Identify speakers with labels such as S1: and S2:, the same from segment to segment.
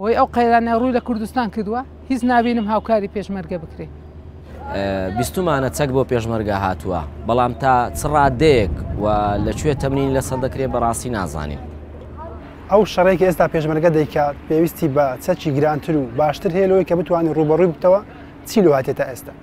S1: بۆی ئەو قەیرانە ڕووی لە کوردستان کردووە هیچ نبینم هاوکاری پێشمەرگە بکرێت
S2: بیستمانە چەک بۆ پێشمەرگە هاتووە بەڵام تا چڕادەیەک و لەکوێ تەمرین لەسەر دەکرێت بەڕاستی نازانین ئەو
S3: شەڕێکی ئێستا پێشمەرگە دەیکات پێویستی بە چەکی گرانتر و باشتر هەیە لەوەی کە بتوانانی ڕوبەڕووی بتەوە چی لە هاتێتە ئێستا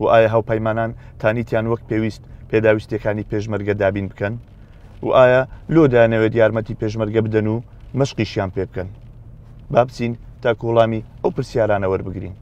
S4: و ئایا هاوپەیمانان تانیتیان وەک پێویست پێداویستیەکانی پێشمەرگە دابین بکەن و ئایا لۆ دەیانەوێت یارمەتی پێشمەرگە بدەن و مەشقیشیان پێ بکەن با بچین تا کوڵامی ئەو پرسیارانە وەربگرین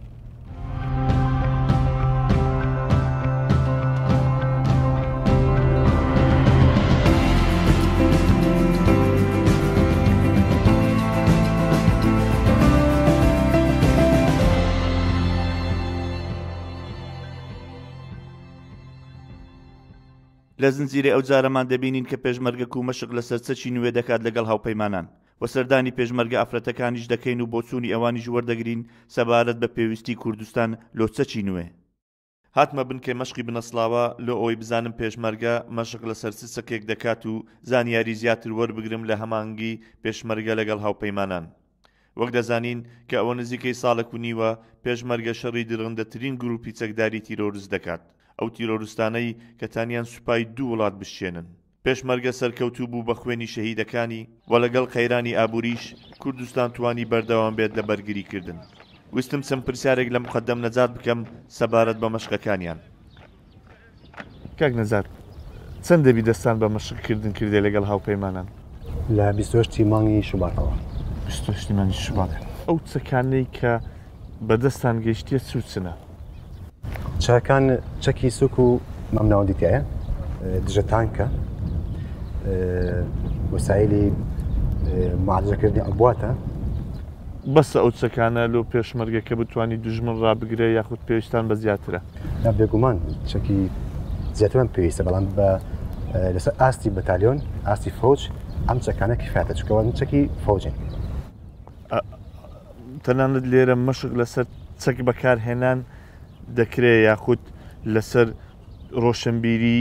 S5: لە زنجیرەی ئەو جارەمان دەبینین کە پێشمەرگە کو مەشق لە سەر چەکی نوێ دەکات لەگەڵ هاوپەیمانان و سەردانی پێشمەرگە ئافرەتەکانیش دەکەین و بۆچوونی ئەوانیش وەردەگرین سەبارەت بە پێویستی کوردستان لۆ چەکی نوێ. هاتمە بنکەی مەشقی بنەسڵاوە لۆ ئەوەی بزانم پێشمەرگە مەشق لە سەر چ چەکێک دەکات و زانیاری زیاتر وەربگرم لە هەمانگی پێشمەرگە لەگەڵ هاوپەیمانان. وەک دەزانین کە ئەوە نزیکەی ساڵێک و نیوە پێشمەرگە شەڕی درڕندەترین گروپی چەکداری تیرۆرست دەکات ئەو تیرۆرستانەی کە تانیان سوپای دوو وڵات بشکێنن پێشمەرگە سەرکەوتوو بوو بە خوێنی شەهیدەکانی وە لەگەڵ قەیرانی ئابوریش کوردستان توانی بەردەوام بێت لە بەرگری کردن ویستم چەند پرسیارێک لە مقەدەم نەجات بکەم سەبارەت بە مەشقەکانیان
S4: کاک نەزار چەند دەبی دەستان بە مەشق کردن کردێ لەگەڵ هاوپەیمانان؟ لە
S6: بیستۆشتی مانگی شوباتەوە. بیستۆشتی مانگی
S4: شوبات. ئەو چەکانەی کە بەدەستان گەیشتیە چ و چنە؟
S6: چەکان چەکی سوک و مامناوەندی تایە، دژە تانکە، وەسایلی معالجەکردنی عبواتە.
S4: بەسە ئەو چەکانە لۆ پێشمەرگەکە بتوانی دوژمن ڕابگرێ یاخود پێویستتان بە زیاترە؟ نا بێگومان
S6: چەکی زیاترمان پێویستە بەڵام بە لەسەر ئاستی بەتالیۆن ئاستی فۆج ئەم چەکانە کفاتە چکەوەن چەکی فۆجن
S4: تەنانەت لێرە مەشق لەسەر چەک بەکارهێنان دەکرێت یاخود لەسەر ڕۆشنبیری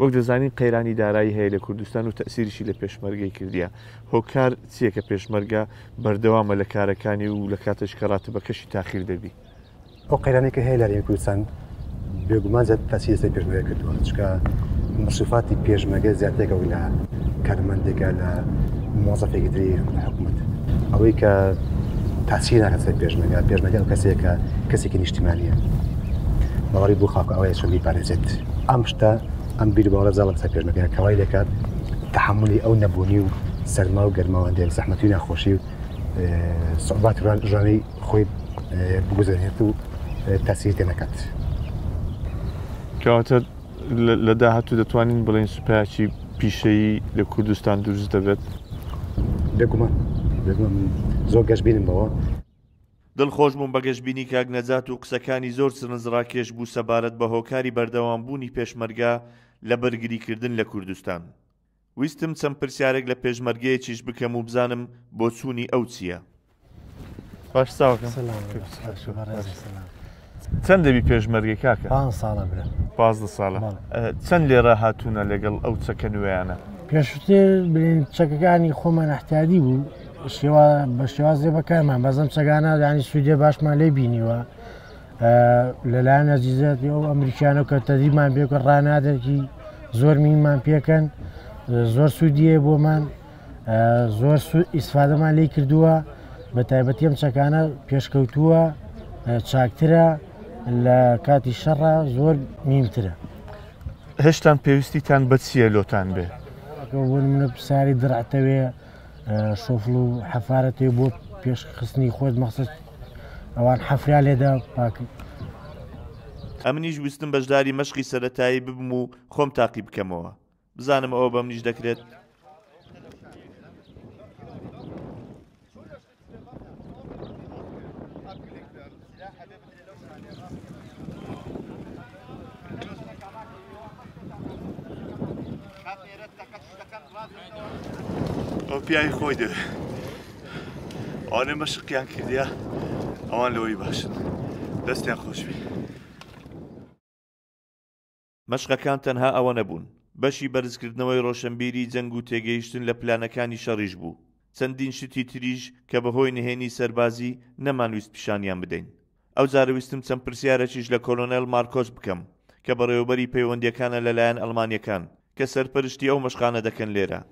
S6: وەک دەزانین
S4: قەیرانی دارایی هەیە لە کوردستان و تەئسیریشی لە پێشمەرگەی کردیە. هۆکار چیە کە پێشمەرگە بەردەوامە لە کارەکانی و لە کاتەش کە راتبەکەشی تاخیر دەبی؟ ئەو قەیرانەی
S6: کە هەیە لە هەرێمی کوردستان بێگومان زیاتر تەئسیری لەسەر پێشمەرگە کردوە چونکە مەسوفاتی پێشمەرگە زیاترێکە وەک لە کارمەندێکە لە مۆزەفێکی تری حکومەت ئەوەی کە تاسی ناکە سەر پێشمەرگە پێشمەرگە ئەو کەسێکە کەسێکی نیشتیمانیە باوەڕی بۆ خاکە ئەوەیە چۆن بیپارێزێت ئەم شتە ئەم بیرباڵە زەڵم سەر پێشمەکەیان کەوای لەکات تحملی ئەو نەبوونی و سەرما و گەرماوەندێک زەحمەتی ناخۆشی و سوبات ژانەی خۆی بگوزێنێت و تاسیری تێ نەکات.
S4: کەواتە لە داهاتوو دەتوانین بڵین سوپایکی پیشەیی لە کوردستان دروست دەبێت بێگومان
S6: زۆر گەشببینم بەوە دڵخۆش
S5: بووم بە گەشبینی کاک نەجات و قسەکانی زۆر سرنجڕاکێش بوو سەبارەت بە هۆکاری بەردەوام بوونی پێشمەرگە لە بەرگری کردن لە کوردستان. ویستم چەند پرسیارێک لە پێشمەرگەیەکیش بکەم و بزانم بۆچوونی ئەو چییە.
S4: چەند دەبی پێشمەرگەی کاکە پان ساڵە برا
S7: پازدە ساڵە
S4: چەند لێرە هاتوونە لەگەڵ ئەو چەکە نوێیانە پێشتر
S7: بلین چەکەکانی خۆمان احتیادی بوو شێوا بە شێوازێ بەکارمان بەزم چەگانە دانی سوودێ باشمان لێ بینیوە لەلایەن نەزیزەتی ئەو ئەمریکانە کە تەدیمان بێکە ڕانادەرکی زۆر مینمان پێکەن زۆر سوودیە بۆمان زۆر سوود ئیسفادەمان لی کردووە بە تایبەتی ئەم چەکانە پێشکەوتووە چاکترە لە کاتی شەڕە زۆر نیمترە
S4: هێشتان پێویستیتان بە چیە لۆتان بێ منە
S7: پساری دڕعتەوێ شۆفل و حەفاەتێ بۆ پێشخستنی خۆت مەخصت ئەوان حەفریا لێدا پاک
S5: ئەمنیش ویستم بەشداری مەشقی سەرەتایی ببم و خۆم تاقی بکەمەوە. بزانم ئەوە بە منیش دەکرێت ئەو پیاوی خۆی دەوێت ئەوانێ مەشقیان کردیا ئەوان لەوەی باشن دەستیان خۆشبی مەشقەکان تەنها ئەوە نەبوون، بەشی بەرزکردنەوەی ڕۆشەنبیری جەنگ و تێگەیشتن لە پلانەکانی شەڕیش بوو، چەندین شتی تریش کە بەهۆی نهێنی سەربازی نەمانویست پیشانیان بدەین. ئەوجارە ویستم چەند پرسیارەکیش لە کۆلۆنێل مارکۆس بکەم، کە بەڕێوەبەری پەیوەندییەکانە لەلایەن ئەڵمانییەکان، کە سەرپەرشتی ئەو مەشقانە دەکەن لێرە.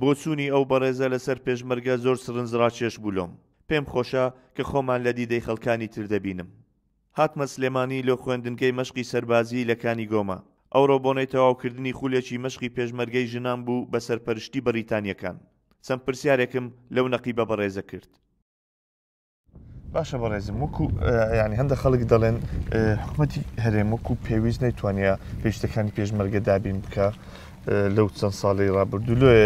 S8: بۆچوونی ئەو
S5: بەڕێزە لەسەر پێشمەرگە زۆر سرنجڕاکێش بوو لۆم، پێم خۆشە کە خۆمان لە دیدەی خەڵکانی تر دەبینم. هاتمە سلێمانی لۆ خوێندنگەی مەشقی سەربازیی لە کانی گۆمە. ئەوڕۆ بۆنەی تەواوکردنی خولێکی مەشقی پێشمەرگەی ژنان بوو بە سەرپەرشتی بەڕیتانییەکان. چەند پرسیارێکم لەو نەقیبە بەڕێزە کرد. باشە
S4: بەڕێزم وەکو ینی هەندە خەڵک دەڵێن حکوومەتی هەرێم وەکو پێویست نەیتوانە پێشتەکانی پێشمەرگە دابین بکە لەو چەند ساڵی ڕابردوو لێ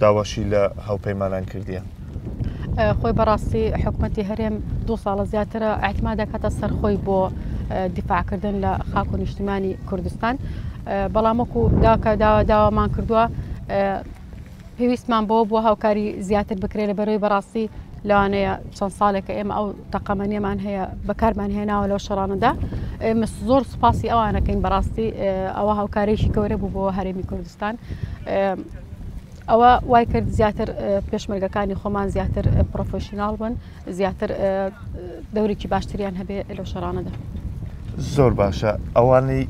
S4: داواشی لە هاوپەیمانان کردیان. خۆی
S9: بەڕاستی حکوومەتتی هەرێم دو ساڵە زیاترە ئەتما دەکاتە سەرخۆی بۆ دیفاعکردن لە خاک و نیشتیمانی کوردستان بەڵام وەکو داکە داوا داوامان کردووە پێویستمان بەوە بووە هاوکاری زیاتر بکرێت لە بەرەوەی بەڕاستی لەوانەیە چەند ساڵێکە ئێمە ئەو تەقەمەنیەمان هەیە بەکارمان هێناوە لەو شەڕانەدا ئێمە زۆر سوپاسی ئەوانەکەین بەڕاستی ئەوە هاوکارێکی گەورە بوو بۆ هەرێمی کوردستان ئەوە وای کرد زیاتر پێشمەرگەکانی خۆمان زیاتر پرۆفشنناڵ بن زیاتر دەورێکی باشتریان هەبێ لەو شەڕانەدا. زۆر
S4: باشە ئەوانەی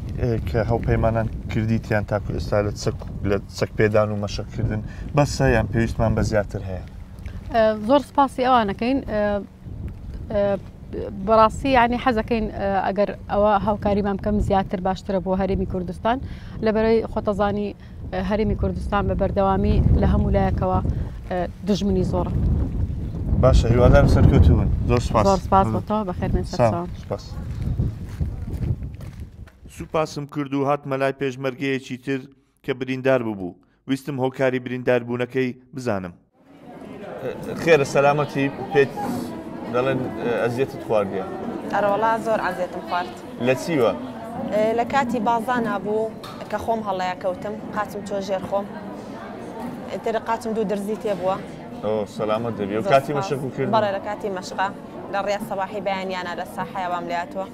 S4: کە هەوپەیمانان کردیتیان تاکو ئێستا لە چەک لە چەک پێدان و مەشەکردن بەسە یان پێویستمان بە زیاتر هەیە
S9: زۆر سپاسی ئەوانەکەین بەڕاستی ینی حەزەکەین ئەگەر ئەوە هاوکاریمان بکەم زیاتر باشترە بۆ هەرێمی کوردستان لە بەرەی خۆتەزانی هەرێمی کوردستان بە بەردەوامی لە هەموو لایەکەوە دژمنی زۆرە باشە
S4: هیوادارم سەرکەوتون زۆر سپاس سپاس بەتەوە بەخێر
S9: من سپاس.
S5: سوپاسم کرد و هاتمە لای پێشمەرگەیەکی تر کە بریندار ببوو ویستم هۆکاری برینداربوونەکەی بزانم.
S4: خێرە سەلامەتی پێت دەڵێن ئەزیێتت خواردە ئەرۆڵا زۆر
S10: ئازێتم خوارد لە چیوە؟
S4: لە کاتی
S10: بازانا بوو کە خۆم هەڵەیە کەوتم قاچم چۆ ژێر خۆم تر قاچم دوو درزی تێ بووە سەلامەت
S4: دەبی و کاتی مەشک کرد بەڵێ لە کاتی مەشقا
S10: لە ڕێ سەواحی بەیانیانە لە ساحەیەوام لاتوە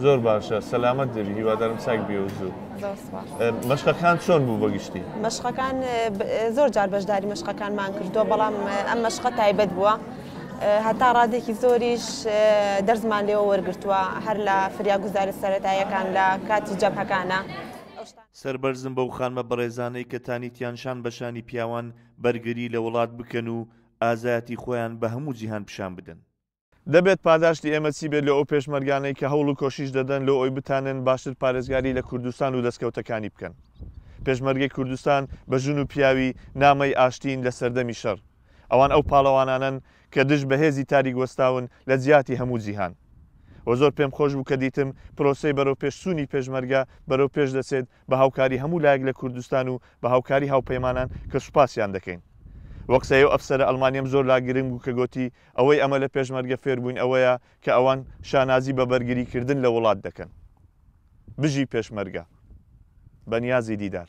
S10: زۆر
S4: باشە سەلامەت دەبی هیوادارم چاک بێ و زوو زۆر سپاس مەشقەکان چۆن بوو بەگشتی مەشقەکان
S10: زۆر جار بەشداری مەشقەکانمان کردووە بەڵام ئەم مەشقە تایبەت بووە هەتا ڕادێکی زۆریش دەرزمان لێەوە وەرگتووە هەر لە فریاگوزاری سەتاییەکان لە کاتی جەبهەکانە. سەربەرزم
S5: بەو خانمە بەڕێزانەی کە تانیتیان شان بە شانی پیاوان بەرگری لە وڵات بکەن و ئازایەتی خۆیان بە هەموو جیهان پیشان بدەن. دەبێت
S4: پاداشتی ئێمە چی بێت لۆ ئەو پێشمەرگانەی کە هەوڵ و کۆشیش دەدەن لۆ ئەوی بتانن باشتر پارێزگاری لە کوردستان و دەستکەوتەکانی بکەن؟ پێشمەرگەی کوردستان بە ژن و پیاوی نامەی ئاشتین لە سەردەمی شەڕ. ئەوان ئەو پاڵەوانانەن کە دژ بە هێزی تاریک وەستاون لە جیاتی هەموو جیهان. وە زۆر پێم خۆش بوو کە دیتم پرۆسەی بەرەو پێش چوونی پێشمەرگە بەرەو پێش دەچێت بە هاوکاری هەموو لایەک لە کوردستان و بە هاوکاری هاوپەیمانان کە سوپاسیان دەکەین. وە قسەی ئەو ئەفسەرە ئەڵمانیەم زۆر لا گرنگ بوو کە گۆتی ئەوەی ئەمە لە پێشمەرگە فێربووین ئەوەیە کە ئەوان شانازی بە بەرگری کردن لە وڵات دەکەن. بژی پێشمەرگە. بەنیازی دیدار.